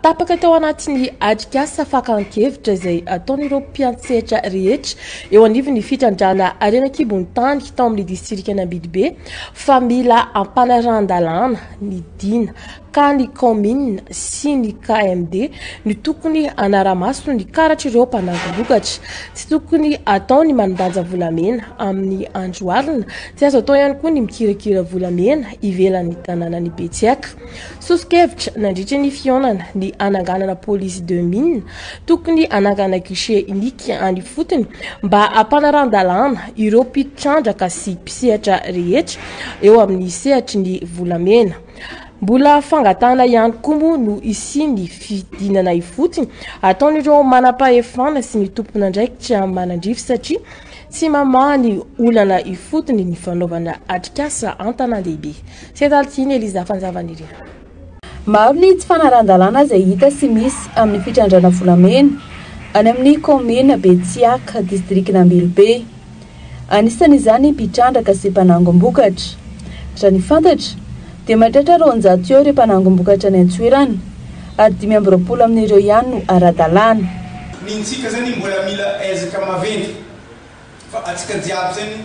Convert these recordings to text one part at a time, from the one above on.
Tapaka tao anatin'ny atrikasa fakan-kevitra izay ataon'ireo mpiantsehatra rehetra eo anivon'ny fitrandrahana harena an-kibon'ny tany tao amin'ny distrikan'i Ambidibe fa mila ampanarahan-dalàna ny Dina ka ny kaominina sy ny KMD no tokony hanara-maso ny karatr'ireo mpanangom-bokatra. Tsy tokony atao ny manandanja volamena amin'ny andro alina, tsy azo atao ihany koa ny mikirakira volamena ivelan'ny tanànan'i Betsiaka. Soso-kevitra nandritra ny fihaonana ny hananganana police de mine, tokony hanangana guichet unique any ifotony mba hampanaran-dalàna ireo mpitrandraka sy mpisehatra rehetra eo amin'ny sehatry ny volamena. Mbola fangatahana ihany koa moa no hisian'ny fidinana ifotony ataon'ireo manam-pahefana sy ny tompon'andraikitra manandrify satria Tsy mamaha ny olana ifotony ny fanaovana atrikasa an-tanàn-dehibe. Setalin' i Eliza Fanjavanirina. Maro ny tsy fanarahan-dalàna izay hita sy misy amin'ny fitrandrana volamena any amin'ny kaominina Betsiaka, distrikan' Ambilobe. Anisan' izany mpitrandraka sy mpanangom-bokatra. Raha ny fantatra, dia mahatratra roanjato eo ireo mpanangom-bokatra any an-toerana. Ady dimy amby roapolo amin'ireo ihany no ara-dalàna. Ny ntsika zany mbola mila ezaka maventy fa atsika jiaby zany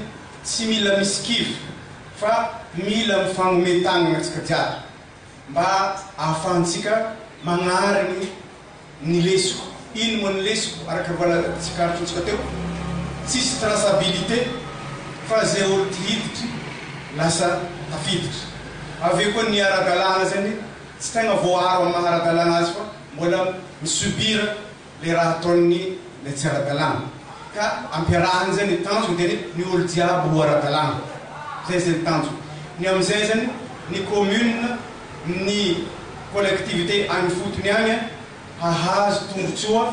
tsy mila misikivy fa mila mifangome tagnana atsika jiaby mba ahafahantsika magnarigny ny lesoko ino moa ny lesoko araka voala tsikaritrontsika teo tsisy traçabilité fa ze olo ty hiditry lasa tafiditry avy eo koa ny ara-dalàna zany Tsy tegna voaaro amin'ny maha ara-dalàna azy fa mbola mi-subir le raha ataon'ny le tsy ara-dalàna. Ka ampiarahany zay ny tanjony dia ny ny olo jiaby ho ara-dalàna. Zay zay ny tanjony. Ny amizay zany ny commune, ny collectivité any fotony any hahazo tombotsoa.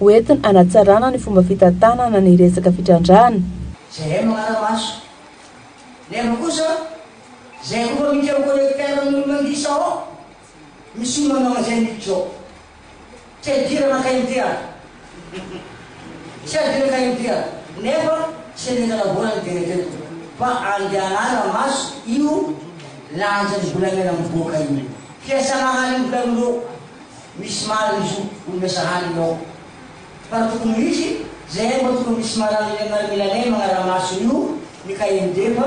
ho entina hanatsarana ny fomba fitantanana ny resaka fitrandrahana. Jereo ny manara-maso. Nefa kosa, zay efa miditra am collecteur ny olona lisa ao, misy olona manao an'izay mihitsy zao. Tsy ampidirana kay ny dia. Tsy ampidirana kay ny dia. Nefa tsy eny an-tanavoana ny dia teto. Fa andehanana maso io lanjan'ny volamena mivoaka io. Fiasana hany ny volamena eo. Misy marina izy io olona sahala i Nôa. Fa raha tokony ho izy, zay hay mba tokony misy marana eny aminareo milalay magnaramaso io ny kaeny defa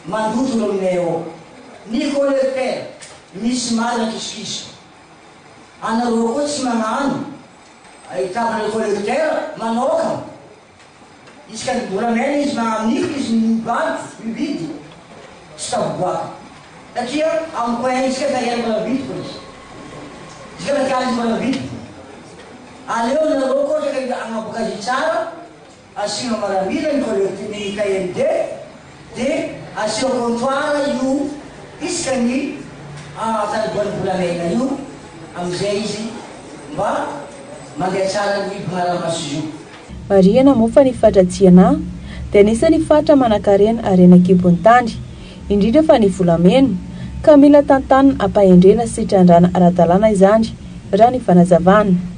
mandoto eo aminay ao. Nicole Fer, misy marina kisokiso. Anareo koa tsy magnano. Ahitako Nicole Fer manaoka. Isika ny volamena izy na amidy izy ny bado, huide, tsy tafavoaka. Satria amiko hay isika fa iray mbola vidiko izy. Isika na tiana izy mbola vidiko. Aleo nareo koa rehefa hanaboka azy tsara asiana maramila ny collect ny KMD. Dia aseho vontoara io isika ny ahatariboan'ny volamena io amin'izay izy mba mandeha tsara ny mpanarambaso io. Marihina moa fa ny faritra Tsiana dia anisan'ny faritra manankarena harena an-kibon'ny tany, indrindra fa ny volamena, ka mila tantanina, ampahendrena sy trandrahana ara-dalàna izany, raha ny fanazavana.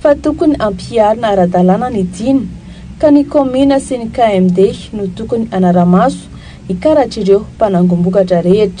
fa tokony hampiharina ara-dalàna ny dina ka ny kaominina sy ny KMD no tokony hanara-maso hikaratr'ireo mpanangom-bokatra rehetra.